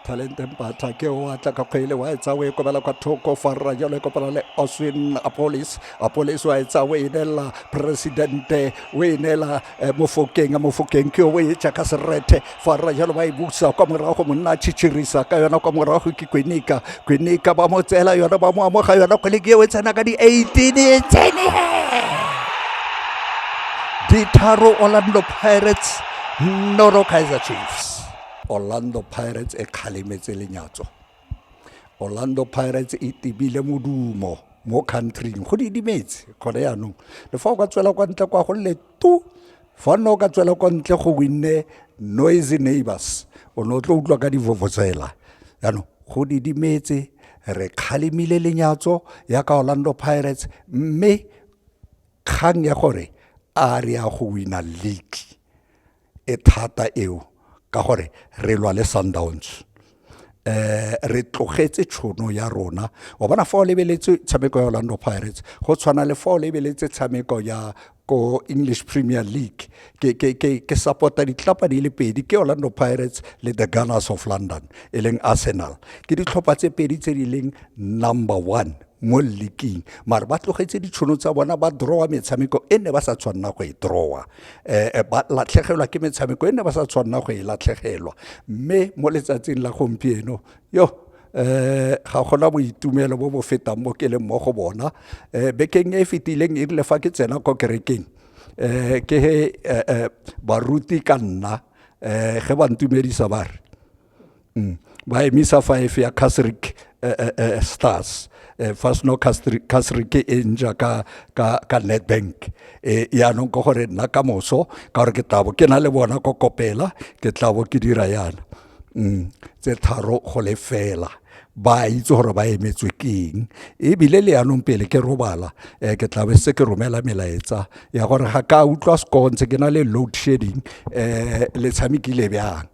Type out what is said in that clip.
talente mpatla ke o atla ka kgwele wa e tsawe e kobela kwa thoko fa rra jalo e kopana le oswin apolis apolis wa e tsawe e neela presidente o e neela eh, mofokeng a mofokeng ke o e tša ka serethe fa rra jalo ba e busa kwa morago monna a tšhitšhirisa ka yona kwa morago ke kwenika kwenika ba mo tseela yona ba mo amoga yona kgwele ke eo e tsena ka di-eighteen e tsene ditharo orlando pirates noro kaizer chiefs orlando pirates e kgalemetse lenyatso orlando pirates e tebile modumo mo countryng go didimetse gone yaanong le fa o ka tswela kwa ntle kwa go le tu fa nne o ka tswela kwa ntle go winne noisy neighbors o ne o tlo utlwa ka divovotsela yaanong go didimetse re kgalemile lenyatso ya ka orlando pirates mme kgang ya gore a re ya go wina league e thata eo ka gore re lwa le sundowns eh re tlogetse tshono ya rona wa bona fa o lebeletse tshameko ya Orlando Pirates go tshwana le fa o lebeletse tshameko ya ko English Premier League ke ke ke ke supporta ditlapa di le pedi ke Orlando Pirates le the Gunners of London e leng Arsenal ke ditlhopha tse pedi tse di leng number 1 mo leaking mare ba tlogetse ditshono tsa bona ba drawa metshameko e ne ba sa tshwanela go e drawa eh, ba latlhegelwa ke metshameko e ne ba sa tshwanela go e latlhegelwa mme mo letsatsing la gompieno yo eh ga gona boitumelo bo bo fetang mo ke leng mo go bona eh bekeng e fetileng e rile fa ke tsena ko kerekeng eh ke he eh, eh, baruti ka nna eh ge ba ntumedisa ba re mm. ba emisa five ya casric eh, eh, eh, stars eh, fa seno casric e nja ka, ka, ka netbank eh, yaanong ka gore nna ka moso ka gore ke tlabo ke na le bona ko kopela ke tlabo ke dira yana mm. tse tharo go le fela ba itse gore ba emetswe keng ebile le yanong pele ke robala um ke tlabe se ke romela melaetsa ya gore ga ka utlwa sekontse ke na le load shedding um le tshamekile bjang